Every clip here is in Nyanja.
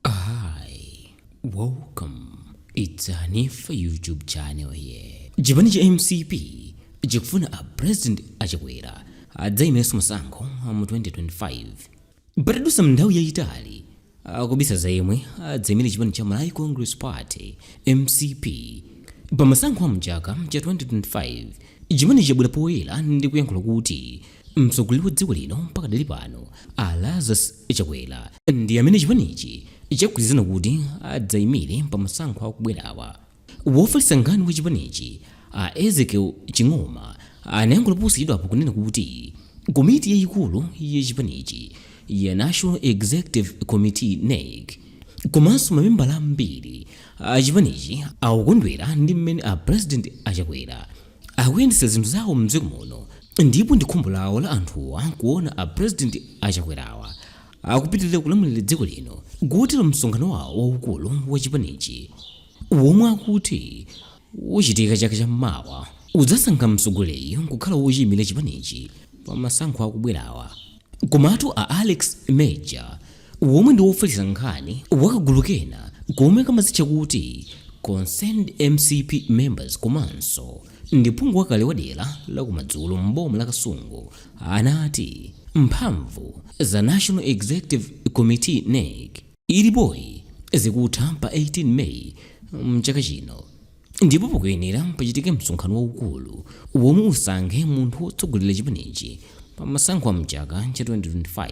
Hi, welcome. It's Hanifa YouTube channel here. Chipani cha MCP chikufuna a president a Chakwera adzaimirenso masankho mu 2025 patadutsa nthawi yayitali akubisa za yemwe adzaimire chipani cha Malawi Congress Party MCP pa masankho a mchaka cha 2025 chipani chabwera poyera ndi kuyankhula kuti mtsogoleri wa dziko lino pakadali pano a Lazarus Chakwera ndi amene chipanichi chagwirizana kuti adzaimire pa masankho akubwerawa. Wofalitsa nkhani wa chipanichi, a Ezekiel Ching'oma, anayankhula posachedwapo kunena kuti komiti yayikulu ya chipanichi ya National Executive Committee, NEC, komanso mamembala ambiri a chipanichi akukondwera ndi mmene a President a Chakwera akuyendetsa zinthu zawo mdziko muno ndipo ndi khumbo lawo la anthuwa kuona a president a Chakwerawa akupitirira kulamulira dziko lino kotero msonkhano wawo waukulu wa chipanichi womwe akuti uchitika chaka cha mmawa udzasankha mtsogoleriyu kukhala wochiyimira chipanichi pa masankho akubwerawa Komatu a Alex Major, womwe ndi wofalitsa nkhani wa kagulu kena komwe kamadzitcha kuti Concerned MCP Members komanso ndi phungu wakale wa dera la kumadzulo m'boma la Kasungu, anati mphamvu za National Executive Committee, NEC, ilipoyi zikutha pa 18 May mchaka chino ndipo pakuyenera pachitike msonkhano waukulu womwe usankhe munthu wotsogolera chipanichi pa masankho a mchaka cha 2025.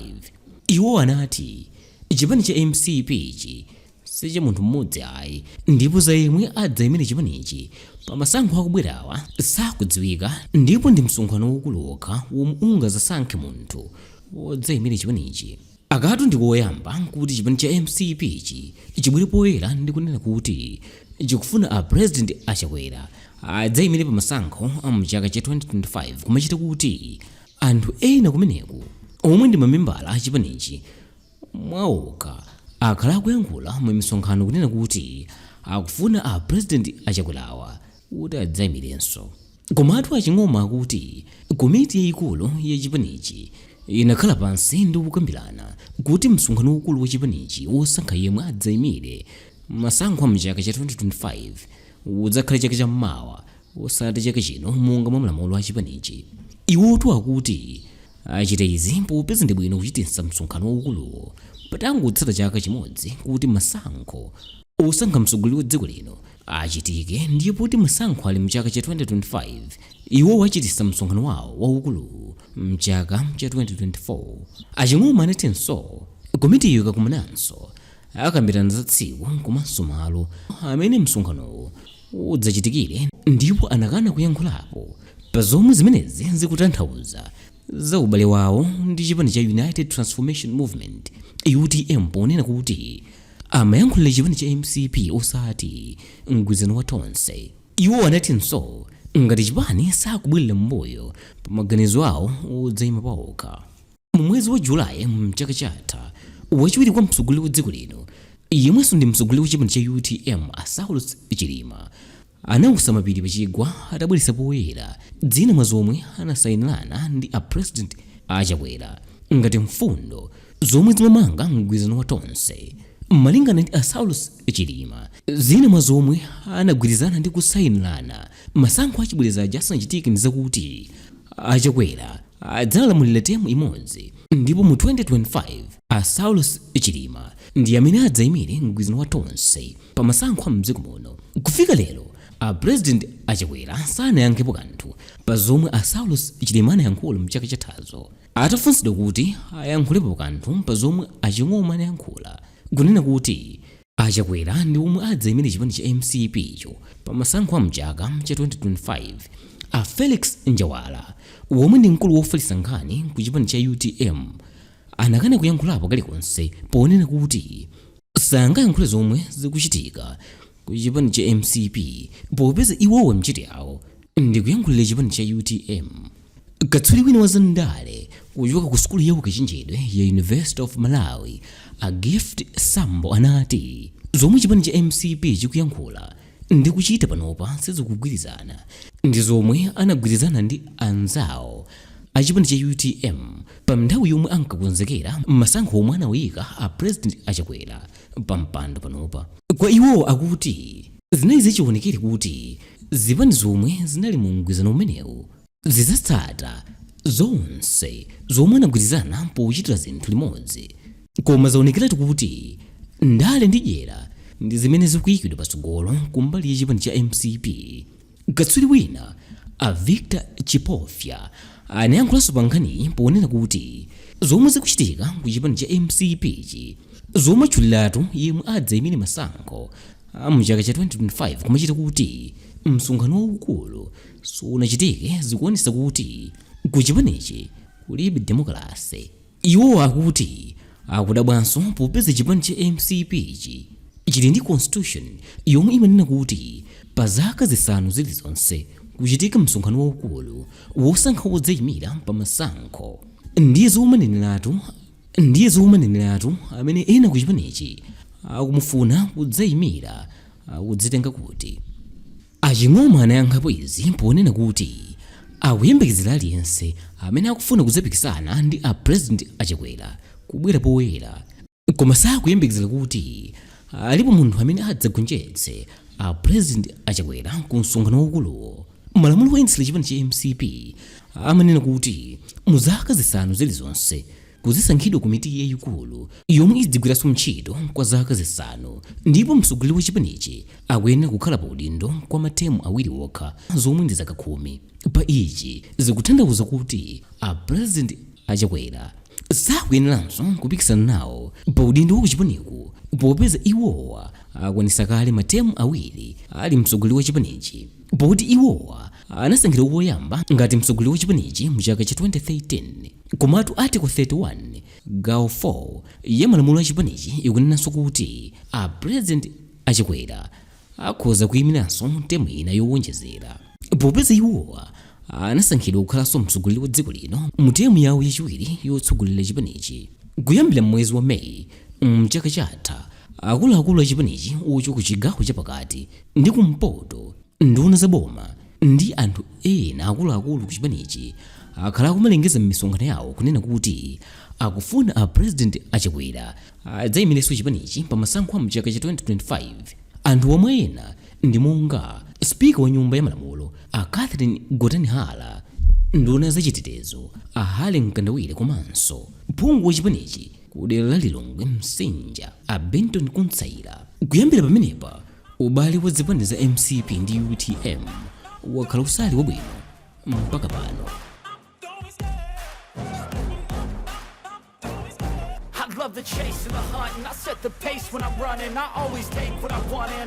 Iwo anati chipani cha MCP-chi si cha munthu mmodzi ayi ndipo za yemwe adzaimire chipanichi pa masankho akubwerawa sizikudziwika ndipo ndi msonkhano waukulu wokha womwe ungadzasankhe munthu wodzaimira chipanichi. Akatu ndi koyamba kuti chipani cha MCP-chi chibwere poyera ndi kunena kuti chikufuna a President a Chakwera adzaimire pa masankho a mu chaka cha 2025 kumachita kuti anthu ena kumeneko omwe ndi mamembala a chipanichi mwa okha akhala akuyankhula mu misonkhano kunena kuti akufuna a President a Chakwerawa kuti adzaimirenso. Komatu a Ching'oma akuti komiti yayikulu ya chipanichi inakhala pansi ndi kukambirana kuti msonkhano waukulu wa chipanichi wosankha yemwe adzaimire masankho a mchaka cha 2025 udzakhala chaka cha mmawa osati chaka chino monga mwa malamulo a chipanichi. Iwotu akuti achita izi popeza ndi bwino kuchititsa msonkhano waukuluwo patangotsala chaka chimodzi kuti masankho osankha mtsogoleri wa dziko lino achitike ndiye poti masankho ali mchaka cha 2025 iwowo achititsa msonkhano wawo waukulu mchaka cha 2024 aching'oma anatinso komitiyo ikakumananso akambirana za tsiku komanso malo amene msonkhanowo udzachitikire ndipo anakana kuyankhulapo pa zomwe zimenezi zikutanthauza za ubale wawo ndi chipani cha united transformation movement utm ponena kuti Amayankhulira chipani cha mcp osati mgwirizano wa Tonse. Iwo anatinso ngati chipani sakubwerera mmbuyo pa maganizo awo odzayima paokha. Mu mwezi wa July mchaka chatha, wachiwiri kwa mtsogoleri wa dziko lino yemwenso ndi mtsogoleri wa chipani cha utm a Saulos Chilima Anautsa mapiri pa chigwa atabweretsa poyera zina mwa zomwe anasayinirana ndi a President a Chakwera ngati mfundo zomwe zimamanga mgwirizano wa Tonse. Malingana ndi a Saulos Chilima, zina mwa zomwe anagwirizana ndi kusayinirana masankho achibwereza aja asanachitike ndi zakuti a Chakwera adzalamulira term imodzi ndipo mu 2025 a Saulos Chilima ndi amene adzaimire mgwirizano wa Tonse pa masankho a m'dziko muno. Kufika lero, a President a Chakwera sanayankhepo kanthu pa zomwe a Saulos Chilima anayankhula m'chaka chathazo. Atafunsidwa kuti ayankhulepo kanthu pa zomwe a Ching'oma anayankhula, kunena kuti a Chakwera ndi omwe adzaimire chipani cha mcp cho pa masankho a m'chaka cha 2025, a Felix Njawala, omwe ndi mkulu wofalitsa nkhani ku chipani cha utm, anakana kuyankhulapo kalikonse ponena kuti sangayankhule zomwe zikuchitika ku chipani cha mcp popeza iwowa ntchito yawo ndi kuyankhulira chipani cha utm katswiri wina wa zandale kuchoka ku sukulu ya ukachenjedwe ya university of malawi a gift sambo anati zomwe chipani cha mcp chikuyankhula ndi kuchita panopa sizikugwirizana ndi zomwe anagwirizana ndi anzawo achipani cha utm pa nthawi yomwe ankakonzekera masankho omwe anawaika a president achakwera pa mpando panopa kwa iwo akuti zinali zachiwonekere kuti zipani zomwe zinali mu mgwirizano umenewu zidzatsata zonse zomwe anagwirizana pochitira zinthu limodzi. Koma zaonekeratu kuti ndale ndi dyera ndi zimene zikuikidwa patsogolo kumbali ya chipani cha mcp. Katswiri wina a Victor Chipofya anayankhulanso pa nkhaniyi ponena kuti zomwe zikuchitika ku chipani cha mcp chi zomatchuliratu yemwe adzaimire masankho a mchaka cha 2025 kumachititsa kuti msonkhano waukulu sunachitike zikuonesa kuti kuchipanichi kulibe demokalase iwo akuti akudabwanso popeza chipani cha mcp chi chili ndi constitution yomwe imanena kuti pa zaka zisanu zilizonse kuchitika msonkhano waukulu wosankha wodzayimira pa masankho ndiye ndiye zomaneneratu amene ena kuchipanichi akumufuna kudzayimira akudzitenga kuti A Ching'oma anayankhapo izi ponena kuti akuyembekezera aliyense amene akufuna kudzapikisana ndi a President a Chakwera kubwera poyera koma sakuyembekezera kuti alipo munthu amene adzagonjetse a President a Chakwera ku msonkhano waukuluwo. Malamulo oyendetsera chipani cha mcp amanena kuti mu zaka zisanu zilizonse, kuzisankhidwa komiti yayikulu yomwe idzigwiranso ntchito kwa zaka zisanu ndipo mtsogoleri wa chipanichi akuyenera kukhala pa udindo kwa matemu awiri okha zomwe ndi zaka khumi pa ichi zikutanthauza kuti a president a chakwera sakuyeneranso kupikisana nawo pa udindo wa kuchipaniku popeza iwowa akwanisa kale matemu awiri ali mtsogoleri wa chipanichi Poti iwowa anasankhidwa koyamba ngati mtsogoleri wa chipanichi mu chaka cha 2013. Komatu Article 31 gawo 4 ya malamulo a chipanichi ikunenanso kuti a President a Chakwera akhoza kuyimiranso temu ina yowonjezera. Popeza iwowa anasankhidwa kukhalanso mtsogoleri wa dziko lino mu temu yawo yachiwiri yotsogolera chipanichi, kuyambira m'mwezi wa May mchaka chatha, akuluakulu a chipanichi ochoka ku chigawo cha pakati, ndi kumpoto nduna za boma ndi anthu ena akuluakulu ku chipanichi akhala akumalengeza m'misonkhano yawo kunena kuti akufuna a president achakwera adzayimirenso chipanichi pa masankho a mchaka cha 2025 anthuwo mwa ena ndi monga spika wa nyumba ya malamulo a catherine gotani hara nduna ya zachitetezo a harry mkandawire komanso phungu wa chipanichi ku dera la Lilongwe Msinja a Bintony Kutsaira. Kuyambira pamenepa, ubale wa zipani za mcp ndi utm wakhala usali wabwino mpaka pano. I love the chase and the hunt, and I set the pace when I'm running. I always take what I want, and